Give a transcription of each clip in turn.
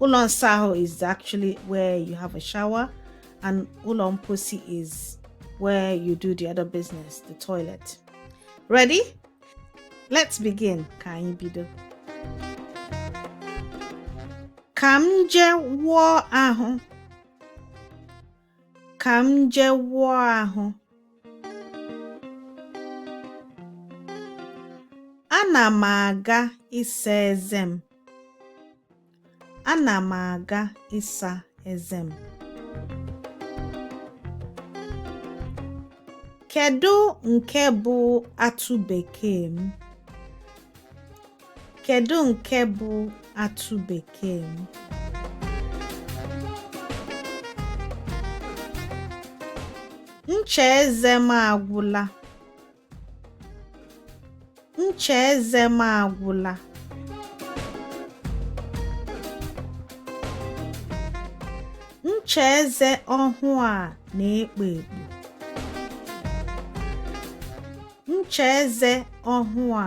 ụlọ nsa ahụ is actually where you have a shower and ụlọ mposi is where you do the other business the toilet ready let's begin ka anyị bido ka m jee wụọ ahụ ka m jee wụọ ahụ. Ana m aga ịsa eze m. Ana m aga ịsa eze m. Kedu nke bụ atụ bekee m? Kedu nke bụ atụ bekee m? Ncha eze m agwụla. Ncha eze m agwụla. Ncha eze ọhụụ a na-ekpo ekpo. Ncha eze ọhụụ a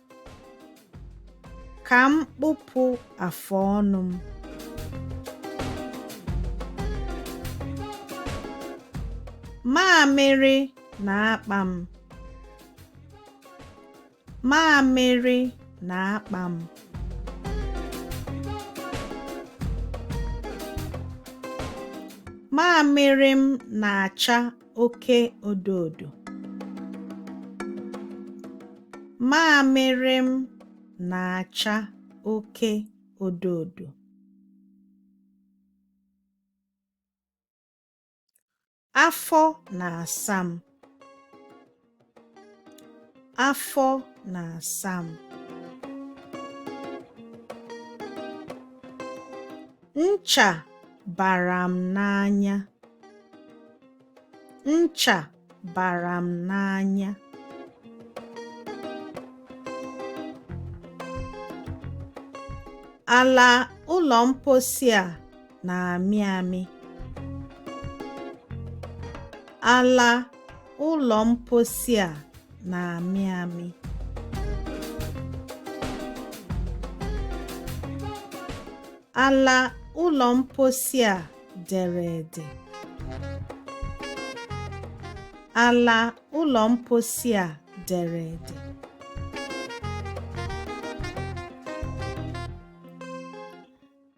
Ka m kpụpụ afụ ọnụ m. Mamịrị na-akpa m. Mamịrị na-akpa m. Mamịrị m na-acha oke odo odo mamịrị m na-acha oke odo odo afọ na-asa m Afọ na-asa m. Ncha bara m n'anya. Ncha bara m n'anya. Ala ụlọ mposi a na-amị amị. Ala ụlọ mposi a na-amị amị. Ala ụlọ mposi a dere ede. Ala ụlọ mposi a dere ede.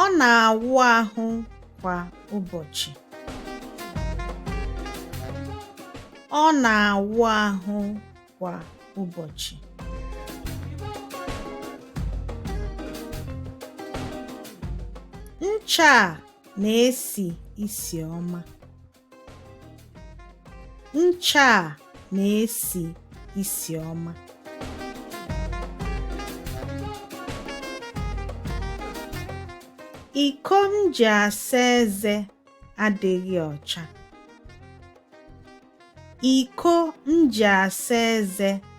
Ọ na-awụ ahụ kwa ụbọchị. Ọ na-awụ ahụ kwa ụbọchị. Ncha a na-esi isi ọma. Ncha a na-esi isi ọma. Iko m ji asa eze adịghị ọcha. Iko m ji asa eze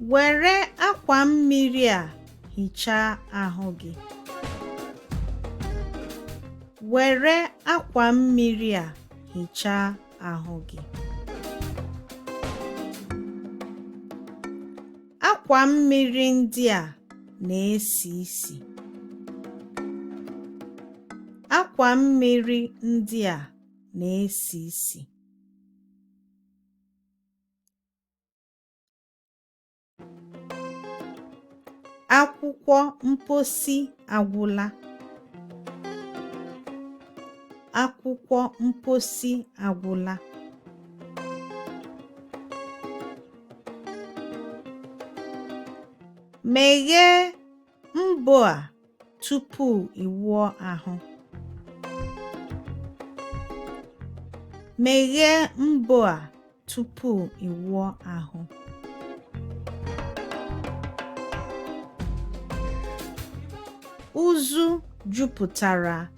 Were akwa mmiri a hichaa ahụ gị. Were akwa mmiri a hichaa ahụ gị. Akwa mmiri ndị a na-esi isi. Akwa mmiri ndị a na-esi isi. Akwụkwọ mposi agwụla. Akwụkwọ mposi agwụla. Meghee mbo a tupu ị wụọ ahụ. Meghee mbo a tupu ị wụọ ahụ. Uzu jupụtara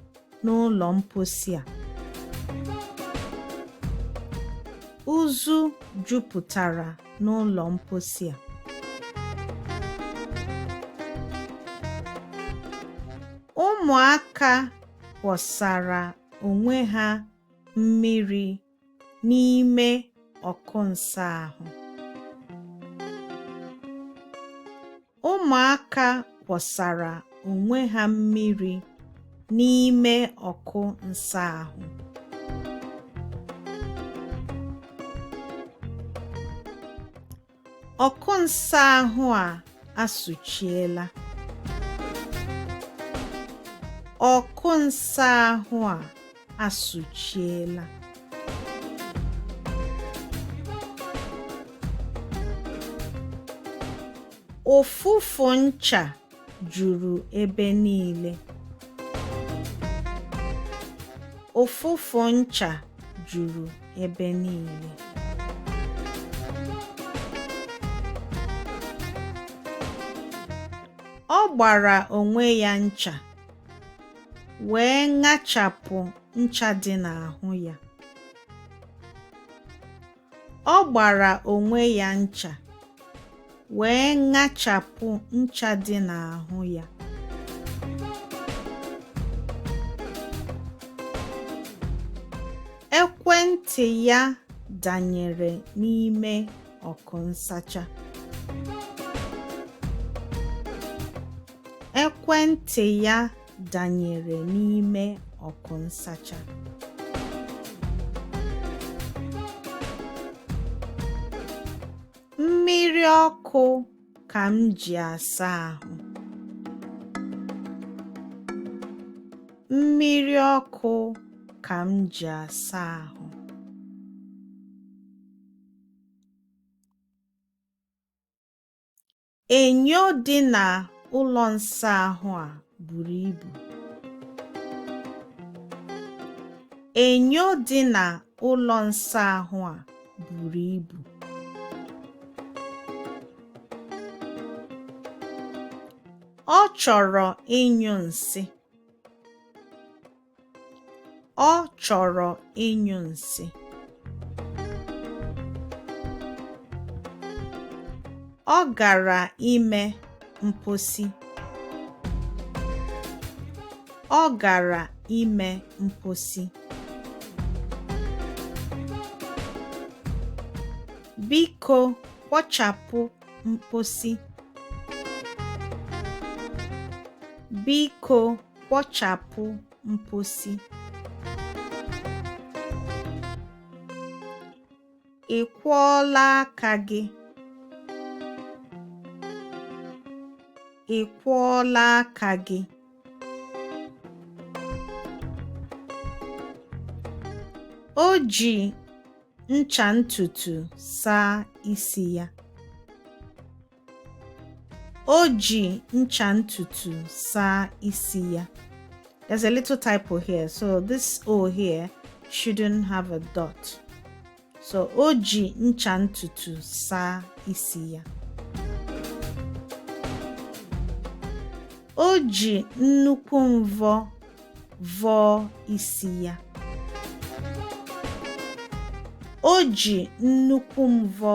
n'ụlọ mposi a uzu jupụtara n'ụlọ mposi a ụmụaka kwọsara onwe ha mmiri n'ime ọkụ nsa ahụ. Ụmụaka kwọsara onwe ha mmiri n'ime ọkụ nsa ahụ. ọkụ nsa ahụ a asụchiela ọkụ nsa ahụ a asụchiela ụfụfụ ncha juru ebe niile. Ụfụfụ ncha juru ebe niile. Ọ gbara onwe ya ncha, wee ṅachapụ ncha dị n'ahụ ya. Ọ gbara onwe ya ncha wee ṅachapụ ncha dị n'ahụ ya. Ekwentị ya danyere n'ime ọkụ nsacha. Ekwentị ya danyere n'ime ọkụ nsacha. Mmiri ọkụ ka m ji asa ahụ. Mmiri ọkụ ka m ji asa ahụ. Enyo dị na ụlọ nsa ahụ a buru ibu. Enyo dị na ụlọ nsa ahụ a buru ibu. Ọ chọrọ ịnyụ nsị. Ọ chọrọ ịnyụ nsị. Ọ gara ime mposi. Ọ gara ime mposi. Biko kwọchapụ mposi. Biko kwọchapụ mposi ị kwọọla aka gị ị kwọọla aka gị o ji ncha ntutu saa isi ya O ji ncha ntutu saa isi ya. There's a little typo here, so this O here shouldn't have a dot. So o ji ncha ntutu saa isi ya. O ji nnukwu mvọ vọọ isi ya. O ji nnukwu mvọ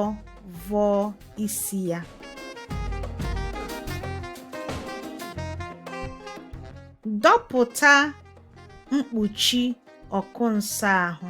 vọọ isi ya. Dọpụta mkpuchi ọkụ nsa ahụ.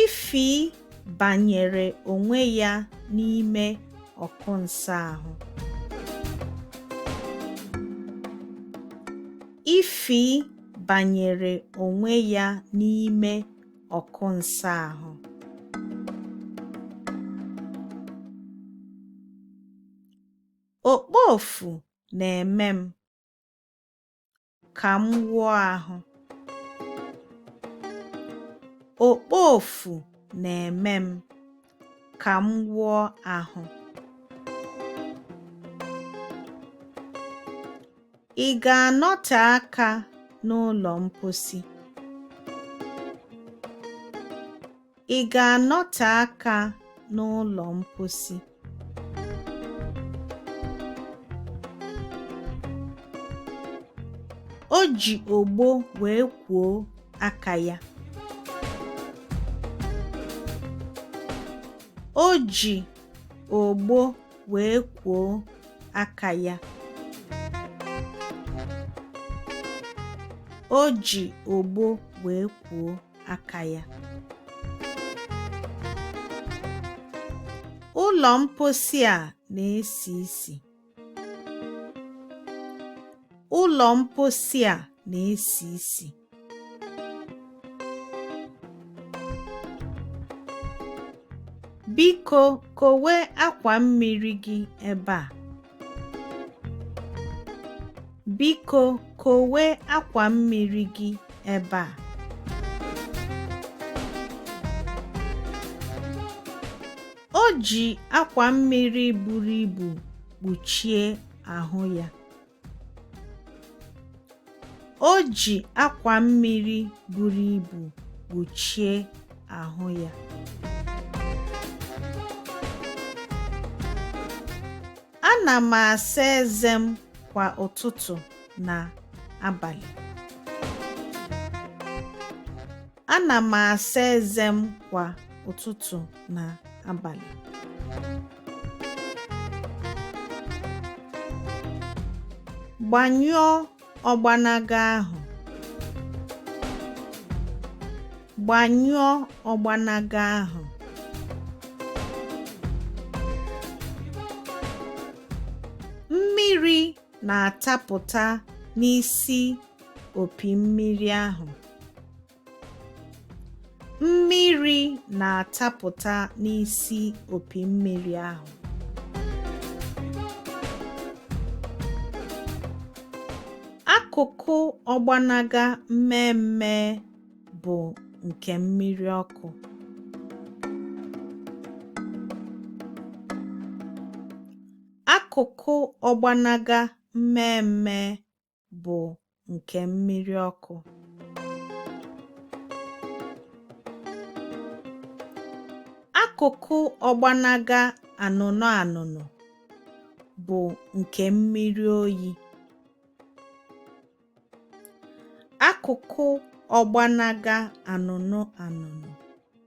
Ify banyere onwe ya n'ime ọkụ nsa ahụ. Ify banyere onwe ya n'ime ọkụ nsa ahụ. Okpofu na-eme m. ka m wụọ ahụ. Okpofu na-eme m ka m wụọ ahụ. Ị ga-anọte aka n'ụlọ mposi? Ị ga-anọte aka n'ụlọ mposi? O ji ogbo wee kwuo aka ya. O ji ogbo wee kwuo aka ya. O ji ogbo wee kwuo aka ya ụlọ mposi a na-esi isi ụlọ mposi a na-esi isi Biko kowe akwa mmiri gị ebe a. Biko kowe akwa mmiri gị ebe a. O ji akwa mmiri buru ibu kpuchie ahụ ya. O ji akwa mmiri buru ibu kpuchie ahụ ya. Ana m asa eze m kwa ụtụtụ na abalị. Ana m asa eze m kwa ụtụtụ na abalị. Gbanyụọ ọgbanaga ahụ. Gbanyụọ ọgbanaga ahụ. Mmiri na-atapụta n'isi opi mmiri ahụ. Mmiri na-atapụta n'isi opi mmiri ahụ. Akụkụ ọgbanaga mmee mmee bụ nke mmiri ọkụ. Akụkụ ọgbanaga mmee mmee bụ nke mmiri ọkụ. Akụkụ ọgbanaga anụnụ anụnụ bụ nke mmiri oyi. Akụkụ ọgbanaga anụnụ anụnụ